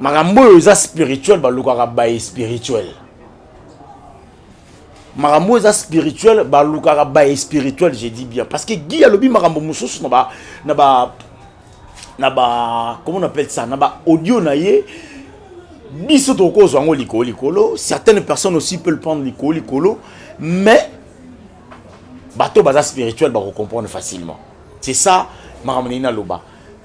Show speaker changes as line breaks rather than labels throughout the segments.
makambo oyo eza spirituel balukaka baye spirituel makambo oyo eza spirituel balukaka baye spirituel je dis bien parce que gi alobi makambo mosusu na ba na ba na ba comment on appelle ça na ba audio na ye biso tokozwa yango likolo likolo certaines personnes aussi peut le prendre likolo likolo mais bato baza spirituel bakocomprendre facilement c'est ça makambo ndenge naloba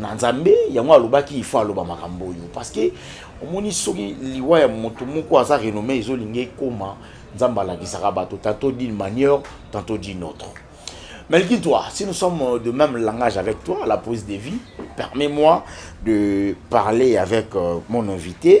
na nzambe yango alobaki il faut aloba makambo oyo parce que omoni soki liwa ya moto moko aza renome ezolinga ekoma nzambe alakisaka bato tantôt d'une manière tantôt d'une autre Melki, toi, si nous sommes euh, de même langage avec toi, la pause de vie, permets-moi de parler avec euh, mon invité,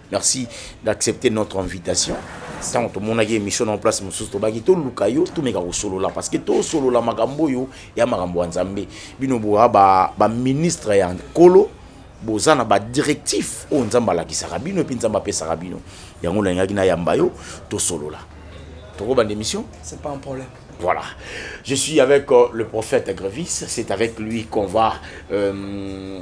Merci d'accepter notre invitation. ntango tomonaki émission na place mosusu tobaki toluka yo tomeka kosolola parce que tosolola makambo oyo ya makambo ya nzambe bino boa baministre ba ya nkolo boza na badirectif oyo nzambe alakisaka bino epe nzambe apesaka bino yango nalingaki nayamba yo tosolola tokobanda émission c'est pas un problème
Voilà.
Je suis avec euh, le prophète Grevis. C'est avec lui qu'on va euh,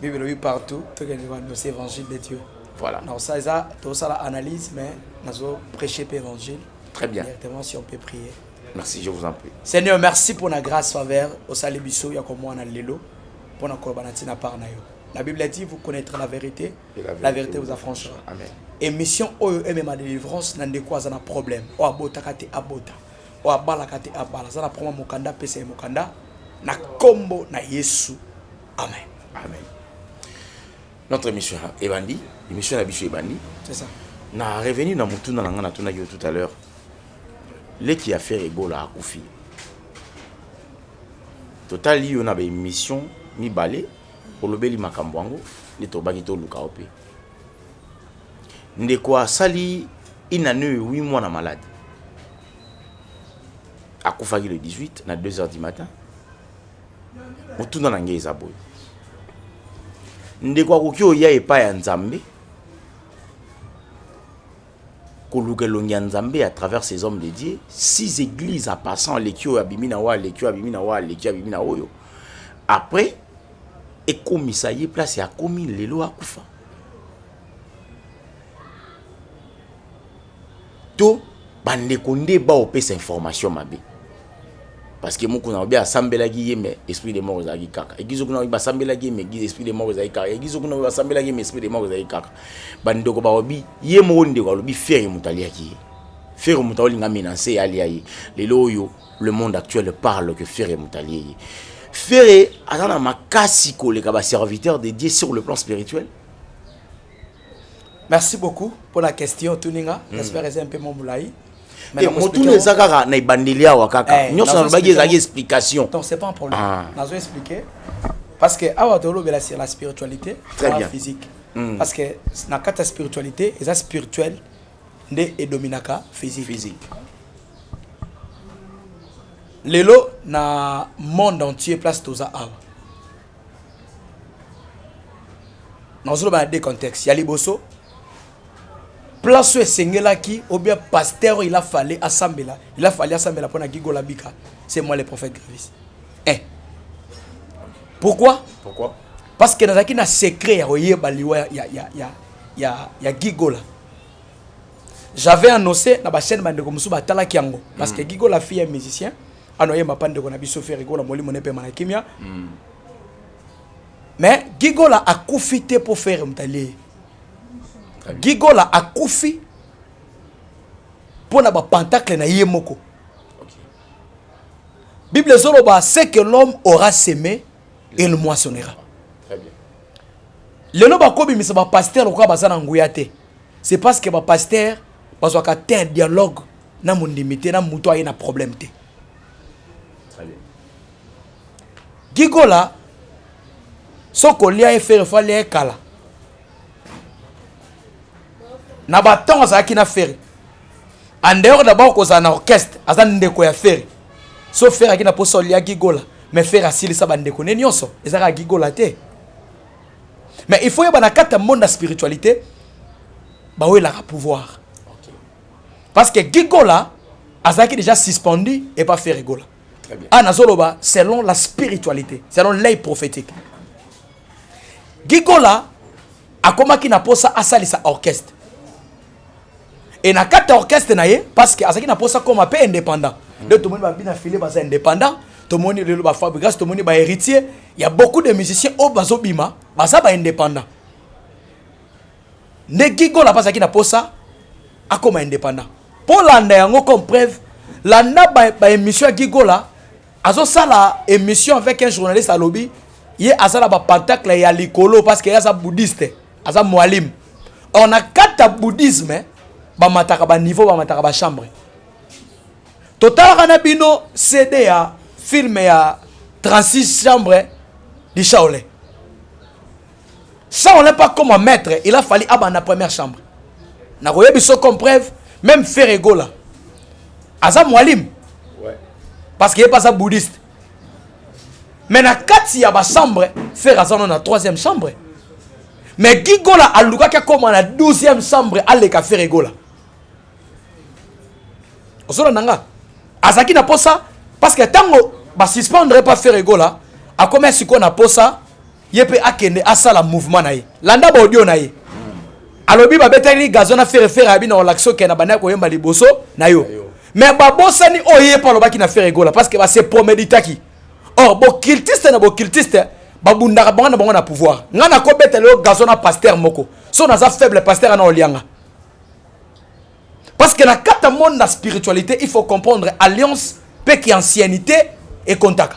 bible elobi partout tokende koannonce évangile de dieu voilà na osala eza tosala analyse mais nazo prêcher mpe évangile très bien directement
si on peut prier
merci je vous en
prie seigneur merci mpo na
grâce faveur osali biso ya komwana lelo mpo na koloba na ntina part na yo la bible a dit vous connaîtrez la vérité la vérité, la vérité vous affranchira amen émission oyo emema délivrance na ndeko aza na problème oyo abotaka te abota oyo abalaka te abala aza na proma mokanda apesa ye mokanda na nkombo na yesu amen amen
notre émission ebandi émission na biso ebandi c'est ça na
revenu na
motuna na ngai natunaki yo tout à l'heure leki ya fere ebola akufi totali yo na baémission mibale olobeli makambo yango nde tobaki toluka yo mpe Ndeko asali une année et huit mois na malade. Akufaki le 18 na 2 heures du matin. Motuna na ngai eza boye. Ndeko akoki oya epai ya Nzambe koluka elongi ya Nzambe à travers ces hommes de Dieu, six églises en passant aleki oyo abimi na oyo aleki oyo abimi na oyo aleki oyo abimi na oyo. Après ekomisa ye place ya komi lelo akufa to bandeko nde baopesa information mabe parce que mokuna obe asambelaki ye me esprit de mort ezalaki kaka egizo kuna basambelaki ye me esprit de mort ezalaki kaka egizo kuna basambelaki ye me esprit de mort ezalaki kaka bandeko baobi ye moko ndeko alobi fere moto aliaki ye fere moto aolinga menanse alia ye lelo oyo Le monde actuel parle que Ferre Moutalier. Ferre aza na makasi koleka ba serviteurs dédiés sur le plan spirituel.
Merci beaucoup pour la question Tuninga. Mm. J'espère eza mpe momulai. Eh, motuna
eza kaka na ebandeli awa kaka eh, nyonso nalobaki ezalaki explication donc c'est pas un problème ah.
nazo expliquer parce que awa tolobela sur la spiritualité très bien physique mm. parce que na kati ya spiritualité eza spirituel nde edominaka physique, physique. lelo na monde entier place toza awa nazoloba na deux contexte ya liboso place oyo esengelaki obia pasteur oyo ila fale asambela ila fale asambela mpo na gigola bika c'est moi le prophète gravis eh. pourquoi pourquoi parce que nazalaki na secret ya koyeba liwa ya, ya, ya, ya, ya gigola j'avais annoncé na bachaîne bandeko mosusu batalaki yango parce que mm. gigo la fille ya musicien anoyemba mpa ndeko na biso ferigona molimo ne mpema na kimia mm. mais gigola akufi te mpo fere mtalie gigola akufi mpo na bapantakle na ye moko bible ezoloba ce que l'homme aura seme et le moissonnera
lelo
bakobimisa bapaster lokola baza na nguya te c'est parce que bapaster bazwaka te un dialogue na mondimi te na moto aye na problème te
gigola
soko olia ye fere fo alia ye kala na batango azalaki na fere en dehors d'abord kozala na orchestre aza ndeko ya fere so fere aki na posa olia gigola mais fere asilisa bandeko ne nyonso ezaka gigola te mais il faut yeba na kati ya monde ya spiritualité bawelaka pouvoir parce que gigola azalaki déjà suspendu et pas fere gola ah nazoloba
selon la
spiritualité selon l'œil prophétique gigola akomaki na posa asalisa orchestre et na kati ya orchestre na ye parce que azalaki na posa koma mpe indépendant nde tomoni babi na file baza indépendant tomoni lelo bafabrigas tomoni bahéritier ya beaucoup de musiciens oyo bazobima baza baindépendant nde gigola mpe azalaki na posa akoma indépendant mpo landa yango comme preuve landa baémission ba ya gigola azosala émission avec un journaliste alobi ye aza na bapentacle ya likolo parce que ye aza bouddhiste aza moalim or na kati ya bouddhisme bamataka baniveau bamataka bachambre totalaka na bino cd ya filme ya 36 chambre du shaole ça on n'est pas comme un maître il a fallu abanda première chambre nakoyebi so comme preuve même ferre egola aza mwalimu
parce que ye mpe
aza bouddhiste mais na kati ya ba chambre fer aza no na 3e chambre mais gigola alukaki akoma na 12e chambre aleka fer egola ozolanda nga azalaki na posa parce que ntango basuspendre epa fer egola akomaki sikoyo na posa ye mpe akende asala mouvement na ye landa baaudio na ye alobi babetaki gazo na fere fere abi na olakisi oke na bandaki koyemba liboso na yo me babosani oyo ye mpe alobaki na fere egola parce que base promeditaki or bocultiste na bocultiste babundaka bango na bango na pouvoir ngai nakobetela yo gazo na paster moko so naza faible paster ana olianga parce que na kata monde na spiritualité il faut comprendre alliance mpe ki anciennité ekontaka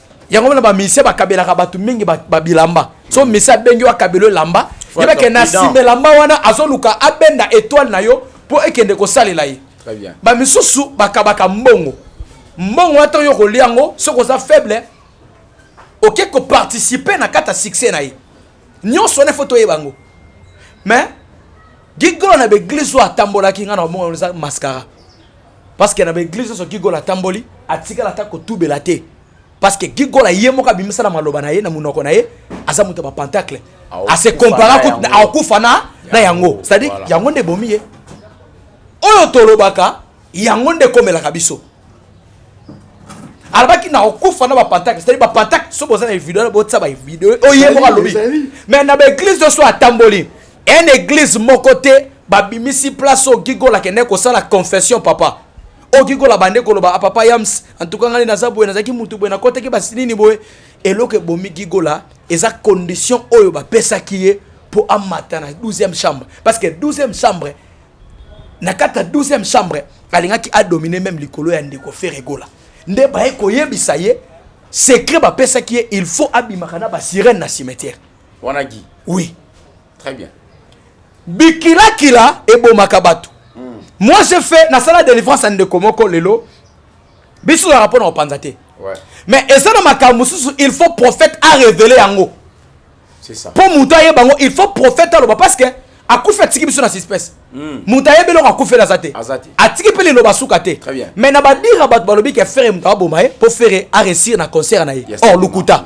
yango wana bamisie bakabelaka bato mingi babilamba so misie abengi yo akabelo elamba yebake na nsima elamba wana azoluka abenda etoile na yo mpo ekende kosalela ye bamisusu
bakabaka
mbongo mbongo wana ntango yo kolia yango soki oza faible oke koparticipe na kati ya succès na ye nyonso wana efo toyeba yango mais gigolo na baeglise oyo atambolaki ngai na omonga eza mascara parce que na ba église so Gigol atamboli atikala ata kotubela te parce que Gigol aye moko abimisa na maloba na ye na munoko na ye aza moto ba pentacle a se compara ko akufa na na yango c'est à dire yango nde bomi ye oyo tolobaka yango nde komelaka biso alobaki na okufa na bapantakle cetadi bapantakle so boza na video botisa bavideo oyo ye moko alobi mais na baeglise nyonso atamboli Un eglise moko te babimisi place oyo gigola kende kosala confession papa oyo gigola bande koloba a ah, papa yams en tout cas ngai naza boye nazalaki mutu boye nakotaki basi nini boye eloko ebomi gigola eza condition oyo bapesaki ye mpo amata na 12e chambre parce que 12e chambre na kati ya 12e chambre alingaki adomine meme likolo ya ndeko feregola nde baye koyebisa ye secret bapesaki ye il faut abimaka na basirene na cimetière wana gi
oui
très bien bikilakila ebomaka bato mm. moi je fait nasala délivrance ya ndeko moko lelo biso tozalaka mpo na kopanza te ouais. mais
eza na makambo
mosusu il faut prophète arévele yango
mpo moto ayeba yango il
faut prophète aloba parce que akufi atiki biso na suspece hmm. moto ayebi eloko akufeli aza te atiki mpe liloba suka te mais na badira
bato
balobi ke fere moto aboma ye mpo fere aresir na concert na ye or lokuta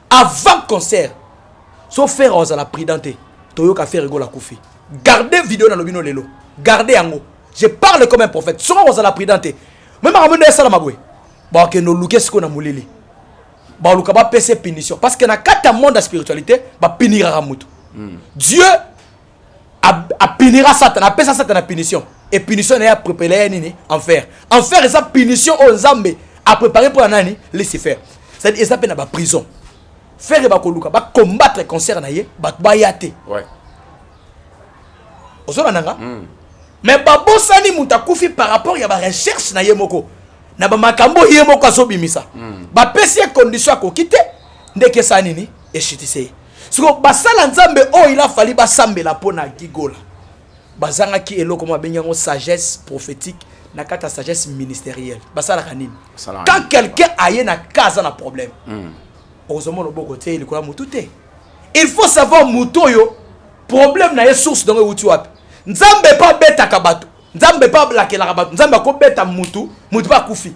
avant concert so ferre ozala prudent te toyoka ferre egola kufi garde video na lobino lelo garde yango je parle comme un prophète soko kozala prudent te me makambo nde esalama boye bakende oluke sikoyo na molili baluka bapesa punition parce que na kati ya monde ya spiritualité bapiniraka motu hmm. dieu apinira satana apesa satana punition e punition na ye aprepare ya nini enfer enfer eza punition oyo nzambe aprepare mpo na nani lucifer cetadi eza mpe na baprison fere bakoluka bacombattre concert na ye bato baya te ozolanda nga hmm. me babosani moto akufi par rapport ya barecherche na ye moko na bamakambo ye moko azobimisa hmm. bapesi ye condition akoki te ndekesa nini eshitise siko basala nzambe oyo ila fali basambela mpo na gigola bazangaki eloko mwa babengi yango sagesse prophétique na kati ya sagesse ministérielle basalaka nini quand quelqu'un aye na ka aza na problème hmm. okozoma loboko te likolo ya motu te il faut savoir motu oyo problème na ye source dongo euti wapi nzambe mpe abetaka bato nzambe mpe ablakelaka bato nzambe akobeta motu motu mpe akufi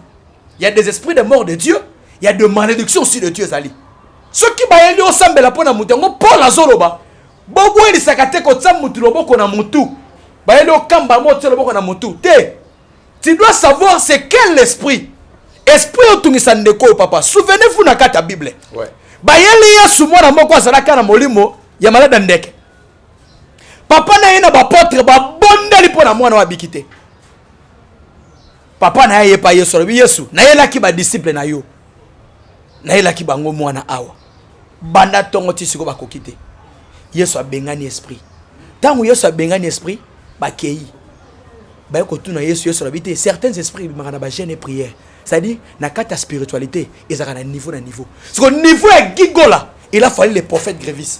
Il y a des esprits de mort de Dieu, il y a de malédiction aussi de Dieu ezali. Soki bayeli osambela mpo na moto yango Paul azoloba bobwelisaka te kotia motu loboko na motu bayeli okamba yango otia loboko na motu te tu dois savoir c'est quel esprit esprit otungisa ndeko oyo papa souvenez-vous na kati ya bible ouais. bayeli
yesu
mwana moko azalaka na molimo ya maladi ya ndeke papa na ye na bapotre babondeli mpo na mwana oyo abiki te papa na ye aye epai yesu alobi yesu nayelaki badisiple na yo nayelaki bango mwana awa banda ntongo ti sikoyo bakoki te yesu abengani esprit ntango yesu abengani esprit bakei baye kotuna yesu yesu alobi te certains esprits ebimaka na bagene e prière c'est-à-dire na kati ya spiritualité ezalaka na niveau na niveau siko niveau ya gigola il a fallu le prophète grévis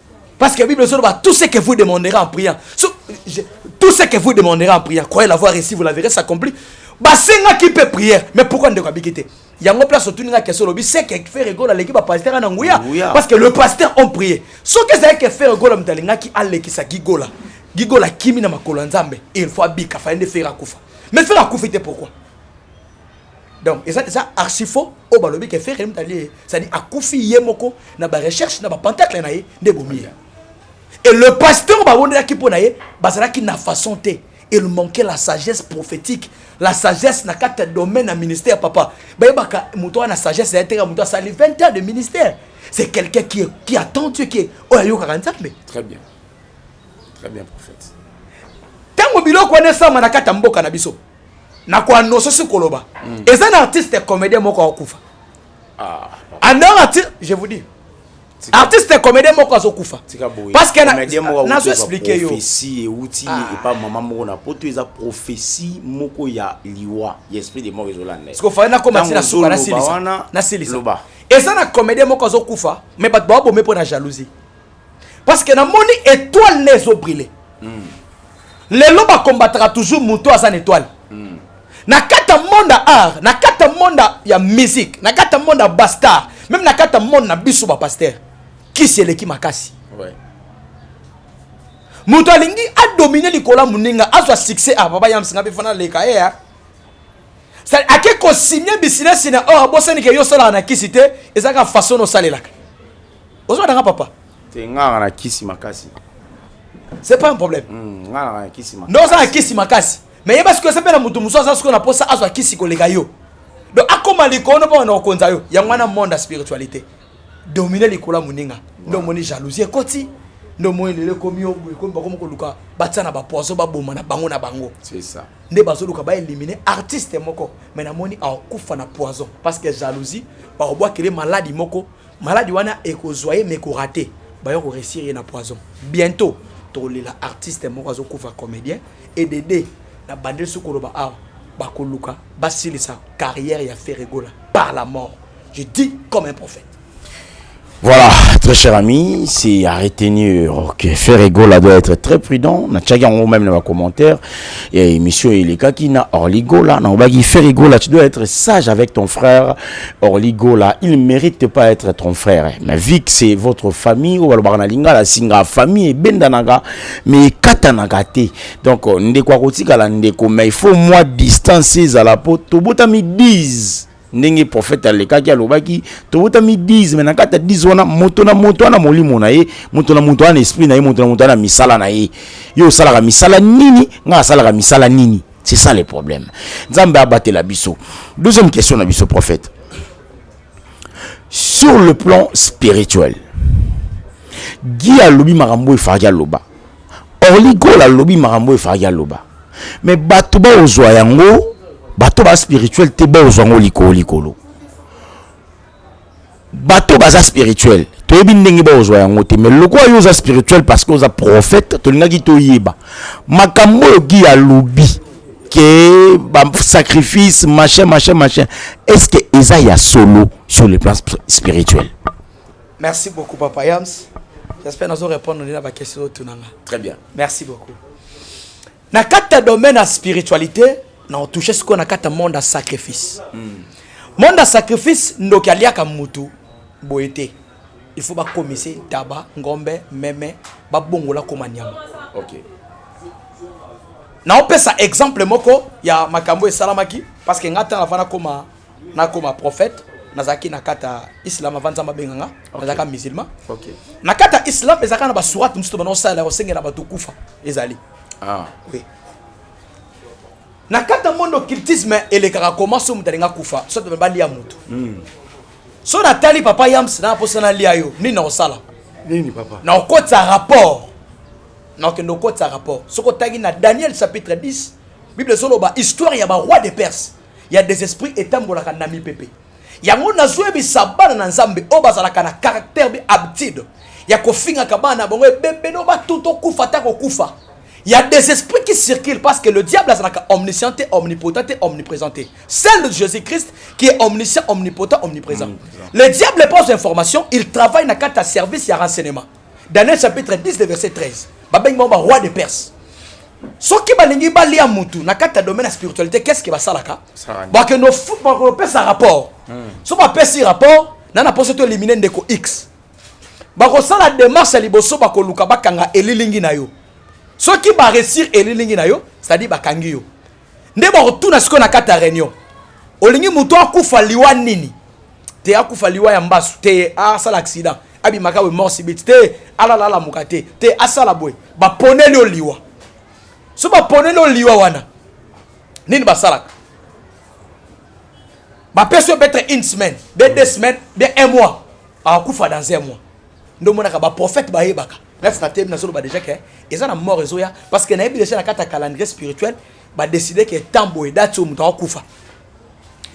Parce que la Bible dit tout ce que vous demanderez en priant. Tout ce que vous demanderez en priant, croyez l'avoir reçu, vous la verrez s'accomplir. Basenga qui peut prier. Mais pourquoi ne pas bikite yango place otuninga question lobi se ke fere gola aleki bapasteur na nguya parce que le pasteur on prier soki ezali ke fere gola moto alingaki alekisa gigola gigola akimi na makolo ya nzambe il faut abika fai nde fere akufa mais fere akufi te pourquoi donc eza eza archifaux oyo balobi ke ferre mutali ye cestadi akufi ye moko na barecherche na bapentacle na ye nde ebomi ye et le pasteur babondelaki mpo na ye bazalaki na façon te il manquait la sagesse prophétique la sagesse na kati ya domaine ya ministère papa bayebaka moto wana na sagesse ya ye teka moto asali 20 ans de ministère c'est quelqu'un qui, est, qui attend dieu qui est oyo ayokaka nzambe très bien
très bien prophète ntango
biloko wana esama na kati ya mboka na biso na ko annonce si koloba mm. eza na artiste comédien moko akokufa ah, en dehors artiste je vous dis artiste comédien moko azokufa parce que nazo expliquer yo prophétie euti
ah. epa mama moko na poto eza prophétie moko ya liwa ya esprit de mort ezolanda parce que fallait na koma tina
suka na silisa na silisa eza na comédien moko azokufa mais bato baobome mpo na jalousie parce que namoni étoile ne ezo brille mm. lelo bakombataka toujours moto aza na étoile mm. na kati ya monde ya art na kati ya monde ya musique na kati ya monde ya bastar meme na kati ya monde na biso bapaster kisi eleki makasi ouais. moto alingi adomine likolo ya moninga azwa succès a ah, baba yamsinga mpe fana leka ye eh, ah. ake kosimye bisinasi na or oh, abosanike yo osalaka na kisi te ezalaka façon osalelaka ozwa nanga papa te nganga na
kisi makasi c'est
pas un problème hmm, nganga na kisi
makasi ndoza na kisi makasi
mais yeba sikoyo esepela moto mosusu aza sikoyo na posa azwa kisi koleka yo donc akoma likono mpo bana kokonza yo yango wana monde ya spiritualité domine likolo ya moninga nde omoni jalousie ekoti nde omoni lelo ekomi yo boye ekomi bakomi koluka batia na bapoison baboma na bango na bango nde
bazoluka baelimine
artiste moko mai namoni akokufa na poison parce que jalousie bakobwakele maladi moko Maladi wana ekozwa ye mais korate bayo koresire ye na poison bientôt tokolela artiste moko azokufa comédien edede na bandeli soki koloba awa bakoluka basilisa carrière ya ferregola par la mort je dis comme un prophète Voilà,
très cher ami, c'est à retenir que Ferregola doit être très prudent. Na tchaki en même dans les commentaires. Et monsieur Eleka qui n'a Orligola, n'a obagi Ferregola, tu dois être sage avec ton frère. Orly Gola, il ne mérite pas être ton frère. Mais vu que c'est votre famille, ou alors na lingala singa famille bendanaga, mais katanaga te. Donc euh, ndeko akotika la ndeko, mais il faut moi distancer à la peau. Tobota mi 10 ndenge prophète alekaki alobaki tobotami 10 me na kati ya 10 wana moto na moto wana molimo na ye moto na moto wana esprit na ye moto na moto wana misala na ye yo osalaka misala nini ngai asalaka misala nini C'est ça le problème. Nzambe abatela biso. Deuxième question na biso prophète. Sur le plan spirituel. Guy alobi makambo efaki aloba. Orly Gold alobi makambo efaki aloba. Mais bato ba ozwa yango, bato ba spirituel te ba ozwa yango likolo likolo. bato baza spirituel toyebi ndenge baozwa yango te mais lokola yo oza spirituel parce que oza prophète tolingaki toyeba makambo oyo gi alobi ke basacrifice machin machin machin est ce que eza ya solo sur le plan spirituel merci
beaucoup papa yams j'espère nazo répondre na bakestion oyo tunanga très bien merci
beaucoup
na kati ya domaine ya spiritualité na otouche sikoyo na kati ya monde ya sacrifice mm. monde ya sacrifice ndoki aliaka mutu boye te il faut bakomise ntaba ngombe meme babongola koma nyama okay. naopesa exemple moko ya makambo esalamaki parce que ngai ntango avana koma nakoma prophète nazalaki na kati ya islam avant nzambe abenga nga nazalaka musulman na kati
ya islam
ezalaka na basurate mosusu bana osalela kosengela bato kufa ezali Ah. Oui. Na kati ya monde occultisme elekaka koma so moto alingi akufa so to balia moto. Mm. So natali papa Yams na posa na lia yo nini nakosala? Nini papa? Na
okotisa rapport.
Na okende okotisa rapport. Soko tangi na Daniel chapitre 10 Bible ezoloba histoire ya ba roi de Perse ya des esprits etambolaka na mipepe. Yango nazoyebisa bana na Nzambe oyo bazalaka na caractère bi habitude ya kofingaka bana na bango ebebe no batu tokufa ata kokufa ya des esprits qui circulent parce que le diable azalaka omniscient te omnipotent te omniprésent te celle de Jésus-Christ qui est omniscient omnipotent omniprésent mm, le diable pose information il travaille na kati ya service ya renseignement Daniel chapitre 10 le verset 13. Babengi bango ba roi de Perse. soki balingi balia mutu na kati ya domaine ya spiritualité qu'est-ce que basalaka bakende kopesa rapport hmm. so bapesi rapport na na poso to elimine ndeko x bakosala démarche ya liboso bakoluka bakanga elilingi na yo soki baresir elilingi na yo c'est-à-dire bakangi yo nde bakotuna sikoyo na kati ya réunion olingi moto akufa liwa nini te akufa liwa ya mbasu te asala accident abimaka we mort subite te alala alamuka te te asala boye baponeli yo liwa so baponeli yo liwa wana nini basalaka bapesi yo betre une semaine be deux semaines bien un mois akufa dans un mois nde omonaka baprofete bayebaka nasi na temi nazoloba deja ke eza na mort ezoya parce que nayebi deja na kati ya calendrier spirituel badeside ke temps boye dati oyo moto akokufa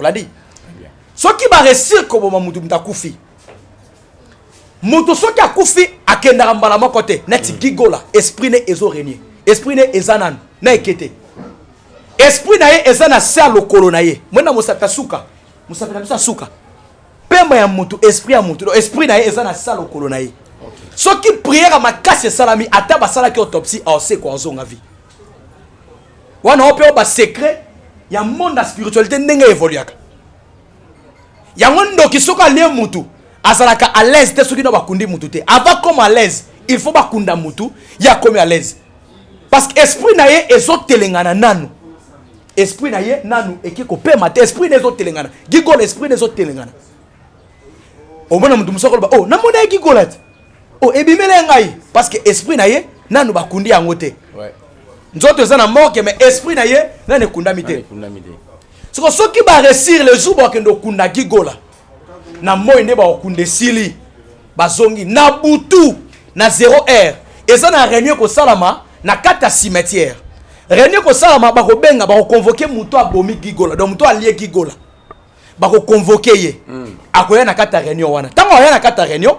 oladi soki baresir koboma motu moto akufi moto soki akufi akendaka mbala moko te neti mm. gigola esprit ne ezo renie esprit ne eza nanu na eke te esprit na ye eza na se ya lokolo na ye mwena mosapi asuka mosapi na biso asuka pema ya motu esprit ya motu esprit na ye eza na se ya lokolo na ye soki priere makasi esalami ata basalaki autopsie aosekwa ozonga vie wana oyo mpe oyo basecret ya monde ya spiritualité ndenge evoluaka yango ndoki soki alie mutu azalaka à l'aise te soki no bakundi mutu te avant comme à l'aise il faut bakunda mutu ye akomi à l'aise parce que esprit na ye ezotelengana nanu esprit na ye nanu eki kopema te esprit na ezotelengana gigola esprit na ezotelengana omona mutu mosusu akoloba o oh, namona ye gigola te oh ebimela ya ngai parce que esprit na ye nanu bakundi yango te nzoto eza na morke mais esprit na ye nanu ekundami te soko soki baresir le jour bakende okunda gigola na moi nde bakokunda esili bazongi na butu na 0 heure eza na réunion ekosalama na kati ya cimetière réunion ekosalama bakobenga bakoconvoke moto abomi gigola donc moto alie gigola bako convoquer ye mm. akoya na kata réunion wana tango aya na kata réunion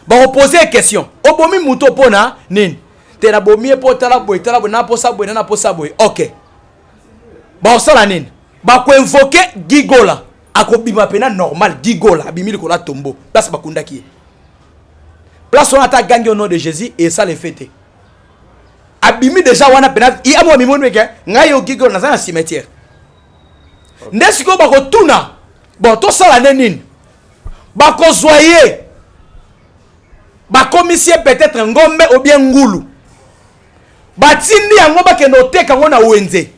bako poser question obomi moto pona nini te na bomi ye po tala boye tala boye na posa boye na posa boye OK bakosala nini bako invoquer gigola akobima pena normal gigola abimi likolo ya tombo place bakundaki ye place wana ata agangi au nom de jésus esala efe te abimi deja wana pena ye amo amimoni meke ngai yo gigola naza na cimetière nde sikoyo bakotuna bon tosala nde nini bakozwa ye bakomisi ye peut-être ngombe obien ngulu batindi yango bakende oteka yango na wenze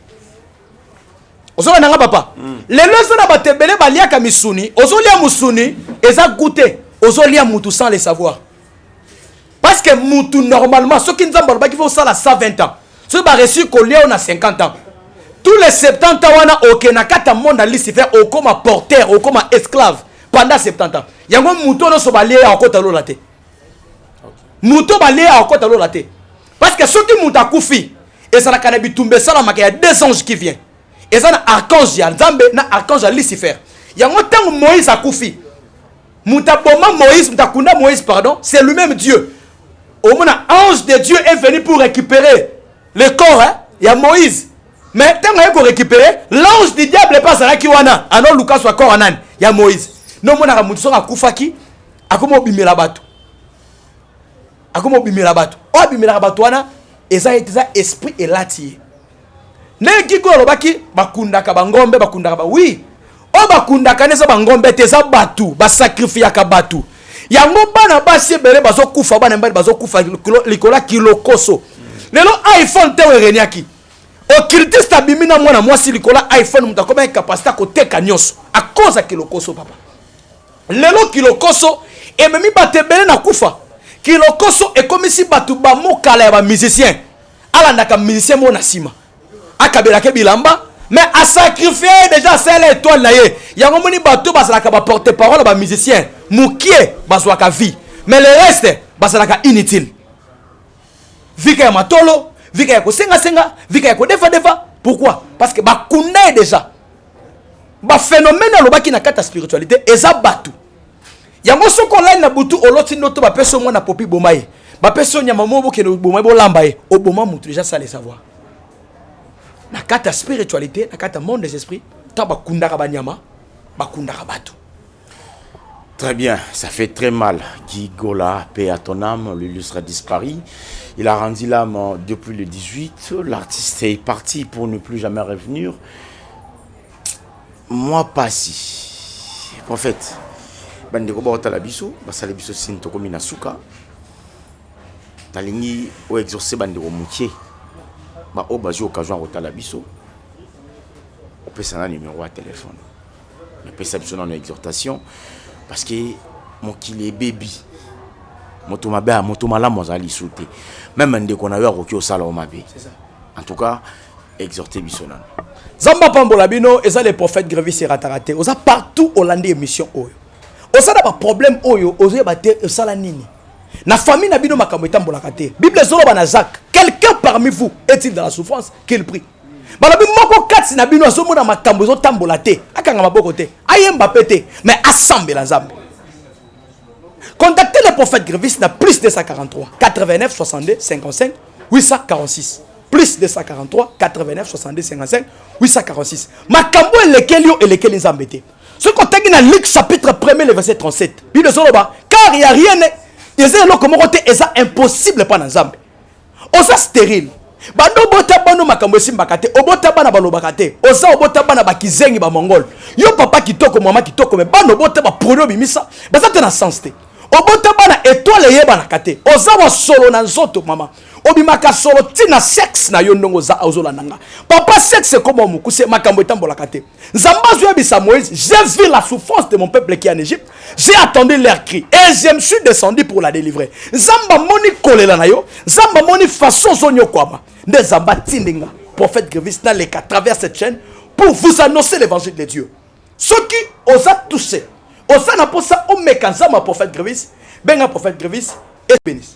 ozokenda nga papa mm. lelo eza na bato ebele baliaka misuni ozolia mosuni eza goute ozolia mutu sans le savoir parce que mutu normalement soki nzambe alobaki fo osala 120 ans soki bareussi kolia yo na 50 ans tous les 70 ans wana oke na kati ya monde ya lucifer okoma porter okoma esclave pendant 70 ans yango moto oyo nyonso balie ya kokota lola te moto balie ya kokota lola te parce que soki moto akufi ezalaka na bitumba esalamaka ya deux anges qui vient eza na archange ya nzambe na archange ya lucifer yango ntango moïse akufi moto aboma moïse moto akunda moïse pardon c'est lui-même dieu omona ange de dieu est venu pour récupérer le corps hein, ya moïse mais ntango aye korécupérer l'ange du diable mpe azalaki wana ano luka swa corps ya nani ya moïse nde omonaka moto soki akufaki akomi obimela bato akomi obimela bato oyo abimelaka bato wana eza eza esprit elati ye ndenge kiko alobaki bakundaka bangombe bakundaka ba oui oyo bakundaka neza bangombe te eza bato basakrifiyaka bato yango bana basi ebele bazokufa bana mibali bazokufa likolo ya kilokoso lelo iphone te oyo ereniaki ocultiste abimi na mwana mwasi likolo ya iphone moto akomaki kapasite akoteka nyonso akoza kilokoso papa lelo kilokoso ememi bato ebele na kufa kilokoso ekomisi bato bamokala ya bamusicien alandaka musicien moko na nsima akabelaka bilamba mais asacrifie deja asala etoile na ye yango moni bato bazalaka baporte parole ya bamusicien mokie bazwaka vie mais le reste bazalaka inutile vika ya matolo vika ya kosengasenga vika ya kodefadefa pourquoi parce que bakunda ye deja baphénomène alobaki na kati ya spiritualité eza bato yango soki olali na butu oloti ndoto bapesi mwana popi boma ye bapesi yo nyama moko bokende oboma ye bolamba ye oboma motu deja sale savoir na kati ya spiritualité na kati ya monde des esprits ntango bakundaka banyama bakundaka bato
Très bien, ça fait très mal. Guy Gola, paix à ton âme, l'illustre a disparu. Il a rendu l'âme euh, depuis le 18. L'artiste est parti pour ne plus jamais revenir. mwa pasi prophète bandeko baotala biso basali biso sini tokomi na suka nalingi oexauce bandeko mokie baoyo bazwi occasion ya kotala biso opesa na numero ya telefone napesa biso nano exhortation parce que mokili ebebi moto mabe moto malamu azali lisusu te meme ndeko na yo akoki osala yo mabe en tout cas exhorter biso nanu nzambe apambola
bino eza le prophète grevis erataka te oza partout olandi émission oyo oza na baproblème oyo ozoyeba te osala nini na famille na bino makambo etambolaka te bible ezoloba na zak quelqu'un parmi vous est-il dans la souffrance qu'il prie balobi moko kati na bino azomona makambo ezotambola te akanga maboko te ayemba mpe te mais asambela nzambe contactez le prophète grevis na plus 243 89 62 55 846 plus 243 89 70 55 846 makambo elekeli yo elekeli nzambe te soki otangi na luc chapitre 1er le verset 37 bible ezoloba car ya rien eza eloko moko te eza impossible mpa na nzambe oza sterile banda obota bano makambo esimbaka te obota bana balobaka te oza obota bana bakizengi bamongole yo papa kitoko mama kitoko me bana obota baproni obimisa baza te na sens te obota bana etoile eyebanaka te oza wasolo na nzoto mama obimaka solo ti na sexe na yo ndongo oza ozolanda nga papa sexe ekoma mokuse makambo etambolaka te nzambe azoyebisa moïse j'ai vu la souffrance de mon peuple qui en égypte j'ai attendu leur cri et je me suis descendu pour la délivrer nzambe amoni kolela na yo nzambe amoni façon ozonyokwama nde nzambe atindi nga prophète grevis naleka travers cette chaîne pour vous annoncer l'évangile de dieu soki oza touché oza na mposa omeka nzambe ya prophète grevis benga prophète grevis et bénisse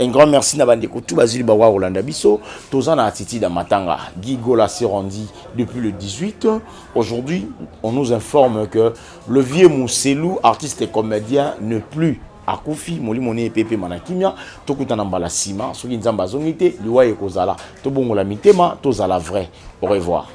Un grand merci na bandeko tout bazili bawa kolanda biso toza na attitude ya matanga Guy Gola s'est rendu depuis le 18 aujourd'hui on nous informe que le vieux Mousselou artiste et comédien ne plus akufi molimo ne epepema na kimia tokutana mbala nsima soki nzambe azongi te liwa ekozala tobongola mitema tozala vrai au revoir